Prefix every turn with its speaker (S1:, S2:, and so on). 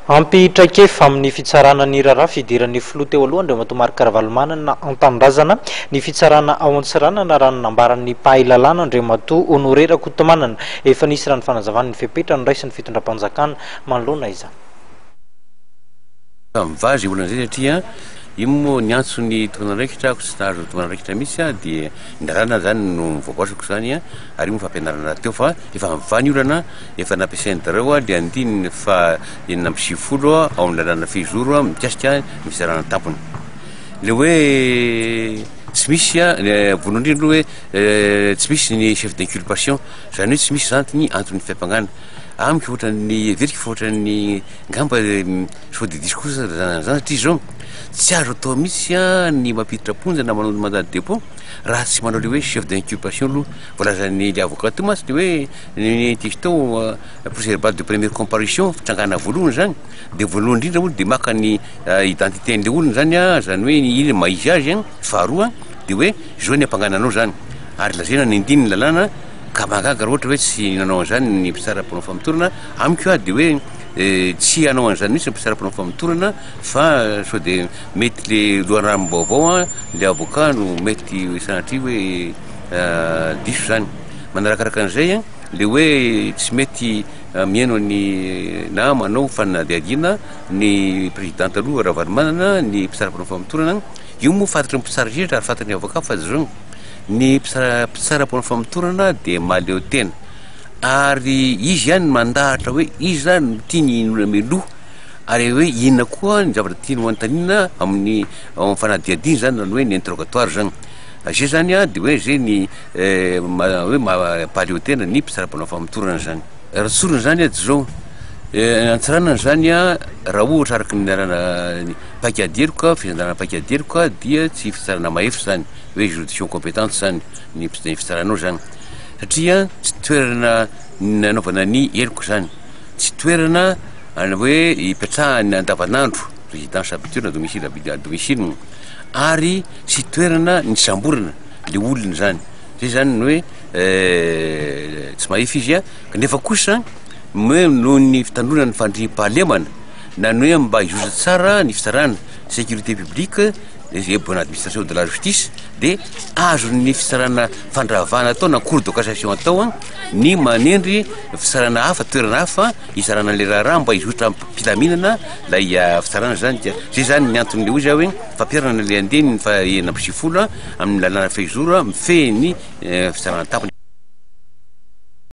S1: Ampy traikefa amin'ny fitsarana ny raharaha fidiran'ny filoha teo aloha Andriamatoa Marc Ravalomanana an-tanindrazana ny fitsarana ao Antsiranana raha ny nambaran'ny mpahay lalàna Andriamatoa Honoré Rakotomanana. Efa nisy raha ny fanazavany ny fepetra noraisin'ny fitondram-panjakana manoloana izany. Samy
S2: vazo io olana izay satria io moa niantso ny tokana andraikitra aho tsy nahazo ny tokana andraikitra mihitsy aho dia ny lalàna izany no voaboasako izany ary io moa fampianarana rahateo fa efa avy ny olana Efa nampiasain'i Dareo ny andininy faha enina amby sivifolo ao amin'ny lalàna fehizoro mikasika ny fizarana ny tampony. Ilay hoe tsy misy, voalohany indrindra aloha hoe tsy misy ny chef d'inculpation, izany hoe tsy misy izany ny anton'ny fiampangana. Amiko ohatran'ny, heveriko fa ohatran'ny ngamba sao dia diso kosa izany satria izao tsy azo atao mihitsy ny mampiditra am-ponja na manao ny mandat de dépôt raha tsy manao ilay hoe chef d'inculpation aloha. Voalazan'ny ilay avocat teo mantsy dia hoe. Ny disto procès verbal de première comparution, fitrangana voalohany zany, de voalohany indrindra olo de maka ny identité an'le olona zany a, zany hoe ino ny maha izy azy a, faharoa de hoe zao ny ampangana anao zany, ary lazaina ny andininy ny lalàna ka mahagaga raha ohatra hoe tsy nanao an'zany ny mpitsara mpanao famotorana, amiko a de hoe tsy hanao an'zany mintsy ny mpitsara mpanao famotorana fa sao de mety le loharanom-baovao a, le avocat no mety sanatria hoe diso zany. Manarakaraka an'izay, ilay hoe tsy mety mihaino ny na manao fanadihadiana ny président taloha Ravalomanana ny mpitsara mpanao famotorana, io moa fantatry ny mpitsara indrindra ary fantatry ny avocat fa zao ny mpitsara mpanao famotorana dia mahaleo tena ary izy ihany no mandahatra hoe iza no tiany hinoana mialoha ary hoe inona koa ny zavatra tiany ho anontaniana amin'ny ao amin'ny fanadihadiana izany na ny hoe ny interrogatoire izany, izay izany dia hoe izay ny. Hoe mampaleo tena ny mpitsara mpanao famotorana izany. Raha tsorina izany ady izao, antsaranana izany raha ohatra araka ny nianarana ny paik'ady heloka, fisandrarana paik'ady heloka dia tsy fitsarana mahefa izany, hoe juridiction compétente izany ny fitsaranao izany. Satria tsy toerana nanaovana ny heloka izany, tsy toerana ana hoe ipetrahana andavanandro, résidence habituelle na domicile habituelle, domicile, ary tsy toerana nisamborana. le olona zany zay zany ny hoe tsy mahefy izy a kanefa kosa hoe noho ny fitandroana ny fandriampahalemana na ny hoe mba hizotra tsara ny fitsarana sécurité publique izay hoe bonne administration de la justice de azon'ny fitsarana fandravana atao na cour de cassation atao a ny manendry fitsarana hafa toerana hafa hitsarana an'ilay raharaha mba hizotra am-pilaminana ilay fitsarana zany dia zay zany ny anton'ilay hoe zay hoe Fampiharana ny andiany faha enina amby sivifolo amin'ny lalàna fehizoro mifehy ny fitsarana an-tampony.